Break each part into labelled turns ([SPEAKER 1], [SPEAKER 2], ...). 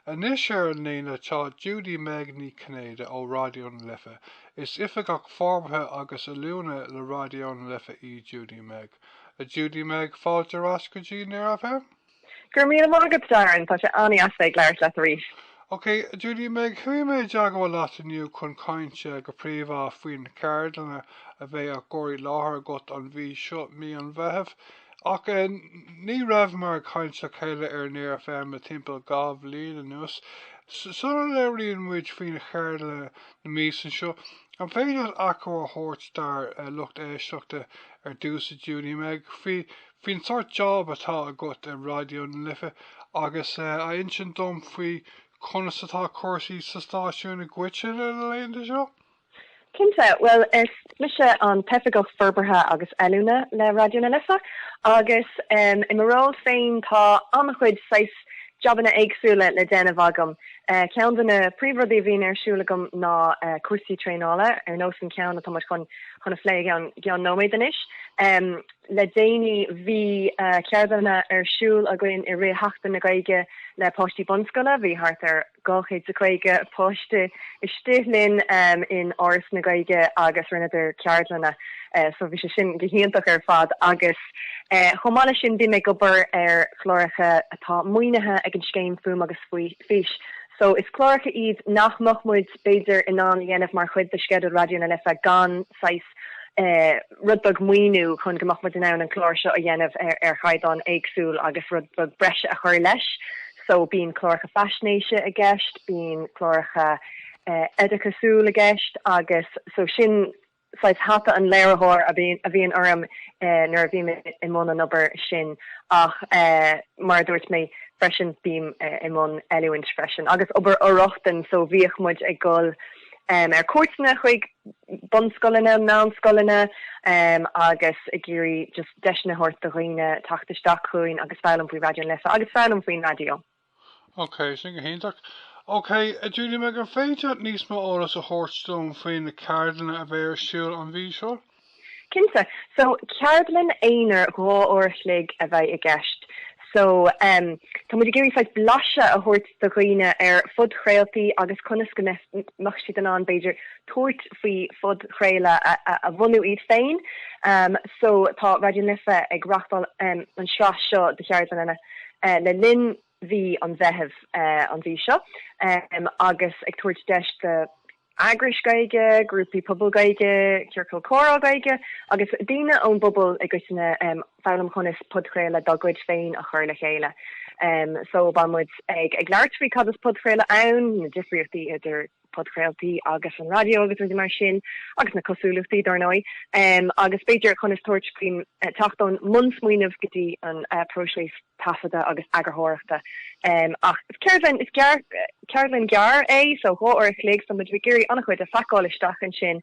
[SPEAKER 1] Anois ar an líne tá Judy-Meg Ní Chinnéide ó Raidió na Life. Is Oifigeach Forbartha agus Oiliúna le Raidió na Life í Judy-Meg. A Judy-Meg, fáilte ar ais go dtí Near FM. Go raibh míle maith
[SPEAKER 2] agat, Darren. Tá sé an-dheas bheith ag labhairt leat arís. Ok, a
[SPEAKER 1] Judy-Meg, chuaigh mé i dteagmháil leat inniu chun caint, go príomhá faoi na ceardlanna a bheidh á gcur i láthair agat an mhí seo, mí an Mheithimh. Ach ní rabhamar ag caint le chéile ar Near FM le timpeall dhá bhliain anuas. Sula labhraíonn muid faoi na ceardlanna na míosa seo, an féidir leat achoimre a thabhairt dár lucht éisteachta ar dtús a Judy-Meg faoin sort job atá agat i Raidió na Life agus a insint dom faoi conas atá cúrsaí sa stáisiún i gcoitinne na laethanta seo? Cinnte.
[SPEAKER 2] Bhuel, is mise an tOifigeach Forbartha agus Oiliúna le Raidió na Life agus i mo ról féin tá an-chuid saghas jabanna éagsúla le déanamh agam. Ceann de na príomhrudaí a bhíonn ar siúl agam ná cúrsaí traenála, ar nós an ceann atá muid chun a phlé i gceann nóiméad anois. Le déanaí bhí ceardlanna ar siúl againn i rith Sheachtain na Gaeilge le páistí bunscoile, bhí thart ar. 250 páiste istigh linn in Áras na Gaeilge agus rinneadar ceardlanna so bhí sé sin go hiontach ar fad agus chomh maith leis sin bím ag obair ar chláracha atá maoinithe ag an scéim Fuaim agus Fís so is cláracha iad nach mbeadh muid b'fhéidir in ann a dhéanamh mar chuid de sceideal Raidió na Life gan saghas rud beag maoiniú chun go mbeadh muid in ann an clár seo a dhéanamh ar chaighdeán éagsúil agus rud beag breise a chur leis. So, bíonn cláracha faisnéise i gceist, bíonn cláracha oideachasúil i gceist agus so sin saghas hata an léiritheoir a bhíonn orm nuair a bhím i mbun an obair sin ach mar a dúirt mé freisin bím i mbun oiliúint freisin agus obair fhor-rochtain so bhíodh muid ag dul ar cuairteanna chuig bunscoileanna, meánscoileanna agus ag iarraidh just deiseanna a thabhairt do dhaoine teacht isteach chugainn agus foghlaim faoi Raidió na Life agus foghlaim faoin raidió. Ok,
[SPEAKER 1] sin go hiontach. Ok, a Judy-Meg, an féidir leat níos mó eolas a thabhairt dom faoi na ceardlanna a bheidh ar siúl an mhí seo? Cinnte.
[SPEAKER 2] So, ceardlann aonair dhá uair a chloig a bheidh i gceist. So, em, tá muid ag iarraidh saghas blaiseadh a thabhairt do dhaoine ar phodchraoltaí agus conas go mbeadh siad in ann, b'fhéidir, tabhairt faoi phodchraoladh a, a, a bhunú iad féin. Em, so, tá Raidió na Life ag reachtáil, em, an sraith seo de cheardlanna, eh, le linn. mhí an Mheithimh an mhí seo agus ag tabhairt deis do eagrais Gaeilge, grúpaí pobail Gaeilge, ciorcail chomhrá Gaeilge agus daoine ón bpobal i gcoitinne foghlaim conas podchraoladh dá gcuid féin a chur le chéile. So beidh muid ag labhairt faoi cad is podchraoladh ann, na difríochtaí idir. podchraoltaí agus an raidió agus rudaí mar sin, agus na cosúlachtaí, dár ndóigh, agus b'fhéidir conas tabhairt faoin teacht ón mbunsmaoineamh go dtí an próiseas taifeadta agus eagarthóireachta. Ach is ceardlann, is ceardlann gearr é, so dhá uair a chloig, so beimid ag iarraidh an-chuid a phacáil isteach ansin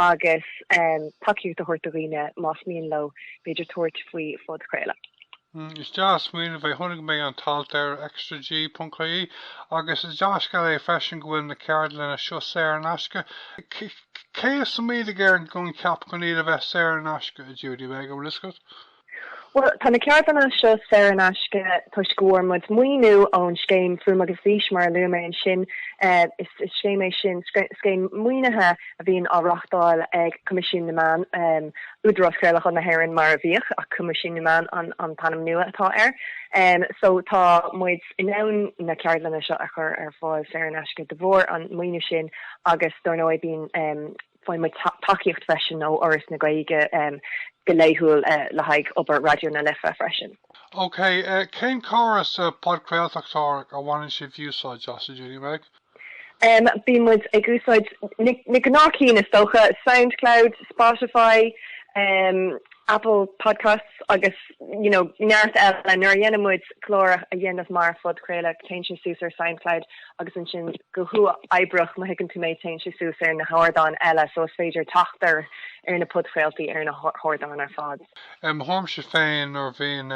[SPEAKER 2] agus tacaíocht a thabhairt do dhaoine más mian leo, b'fhéidir, tabhairt faoi phodchraoladh. Hm, is
[SPEAKER 1] dea-smaoineamh é. Chonaic mé an t-alt ar extraG.ie agus is dea-scéal é freisin go bhfuil na ceardlanna seo saor in aisce. Cé a smaoinigh ar an gcoincheap chun iad a bheith saor in aisce, a Judy-Meg? Beidh a fhios agat.
[SPEAKER 2] Bhuel, tá na ceardlanna seo saor in aisce toisc go bhfuair muid maoiniú ón scéim Fuaim agus Fís, mar a luaigh mé ansin. Is scéim é sin, scéim maoinithe. a bhíonn á reáchtáil ag Coimisiún na Meán, Údarás Craolacháin na hÉireann mar a bhíodh, ach Coimisiún na Meán an t-ainm nua atá air. So tá muid in ann na ceardlanna seo a chur ar fáil saor in aisce de bharr an maoiniú sin agus dár ndóigh bíonn, faigheann muid tacaíocht freisin ó Fhoras na Gaeilge go laethúil le haghaidh obair Raidió na Life freisin. OK,
[SPEAKER 1] cén córas podchraoltóireachta a bhaineann sibh úsáid as, a Judy-Meg?
[SPEAKER 2] Bíonn muid ag úsáid na gnáthchinn is dócha, Soundcloud, Spotify, Apple Podcasts agus you know neart eile. Nuair a dhéanann muid clár a dhéanamh mar phodchraoladh téann sé suas ar Soundcloud agus ansin go huathoibríoch má thuigeann tú mé téann sé suas ar na hardáin eile so is féidir teacht ar na podchraoltaí ar na hardáin ar fad. I mo
[SPEAKER 1] thuairimse féin, nuair a bhíonn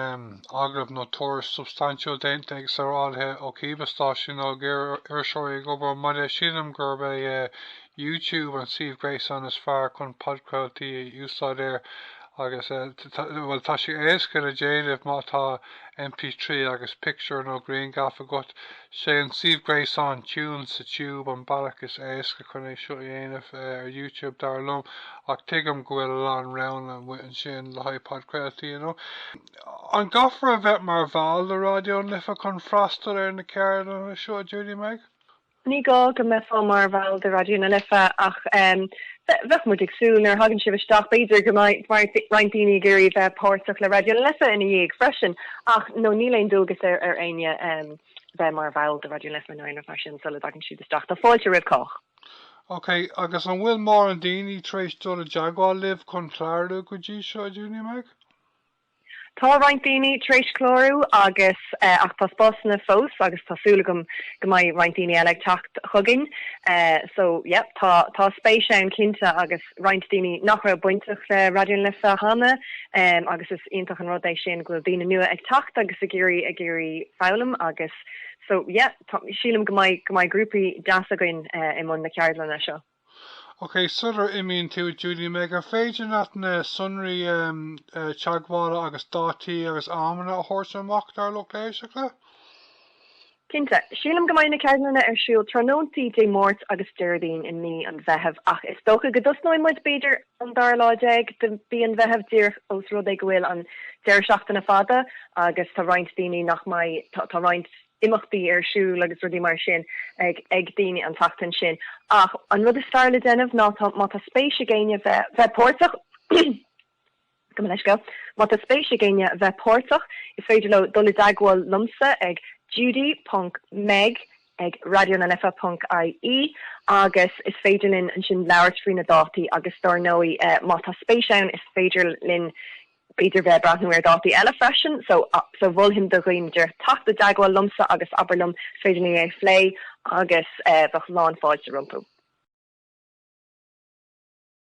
[SPEAKER 1] agallamh nó tuairisc substaintiúil déanta ag saorálaithe ó cibé stáisiún nó ag iriseoirí ag obair ón mbaile sílim gurb é YouTube an suíomh gréasáin is fearr chun podchraoltaí a úsáid air agus bhuel tá sé éasca le déanamh má tá MP3 agus pictiúr nó grianghraf agat. Sé an suíomh gréasáin TunesToTube an bealach is éasca chun é seo a dhéanamh ar Youtube dar liom ach tuigim go bhfuil a lán roghanna amuigh ansin le haghaidh podchraoltaí you know. An gcaithfear a bheith mar bhall de Raidió na Life chun freastal ar na ceardlanna seo, a Judy-Meg? Ní gá go mbeifeá
[SPEAKER 2] mar bhall de Raidió na Life ach Bheadh muid ag súil, nuair a thagann sibh isteach, b'fhéidir go mbeadh roinnt daoine ag iarraidh bheith páirteach le Raidió na Life ina dhiaidh freisin, ach no, níl aon dualgas ar éinne bheith mar bhall de Raidió na Life nó aon rud mar sin sula dtagann sibh isteach. Tá fáilte roimh cách.
[SPEAKER 1] OK, agus an bhfuil mórán daoine tar éis dul i dteagmháil libh chun clárú go dtí seo, a Judy-Meg?
[SPEAKER 2] Tá roinnt daoine tar éis clárú agus ach tá spásanna fós agus tá súil agam go mbeidh roinnt daoine eile ag teacht chugainn so yep tá tá spéis ann cinnte agus roinnt daoine nach raibh bainteach le Raidió na Life cheana agus is iontach an rud é sin go bhfuil daoine nua ag teacht agus ag iarraidh ag iarraidh foghlaim agus so yep tá sílim go mbeidh go mbeidh grúpaí deas againn i mbun na ceardlanna seo.
[SPEAKER 1] OK, sular imíonn tú, Judy Meg, an féidir leat na sonraí teagmhála agus dátaí agus amanna a thabhairt amach dár lucht éisteachta?
[SPEAKER 2] Cinnte. Sílim go mbeidh na ceardlanna ar siúl tráthnóntaí Dé Máirt agus Déardaoin i mí an Mheithimh ach is dócha go dtosnóidh muid b'fhéidir an dara lá déag de mhí an Mheithimh díreach ós rud é go bhfuil an deireadh seachtaine fada agus tá roinnt daoine nach mbeidh, tá roinnt. imeachtaí ar siúl agus rudaí mar sin ag daoine an tseachtain sin ach an rud is fearr le déanamh ná má tá spéis ag éinne bheith páirteach gabh mo leithscéal má tá spéis ag éinne bheith páirteach is féidir leo dul i dteagmháil liomsa ag judy ponc meg ag raidió na life ponc ie agus is féidir linn ansin labhairt faoi na dátaí agus dár ndóigh má tá spéis ann is féidir linn B'fhéidir bheith ag breathnú ar dhátaí eile freisin, so so mholfainn do dhaoine teacht i dteagmháil liomsa agus abair liom, is féidir linn é a phlé agus bheadh lán fáilte rompu.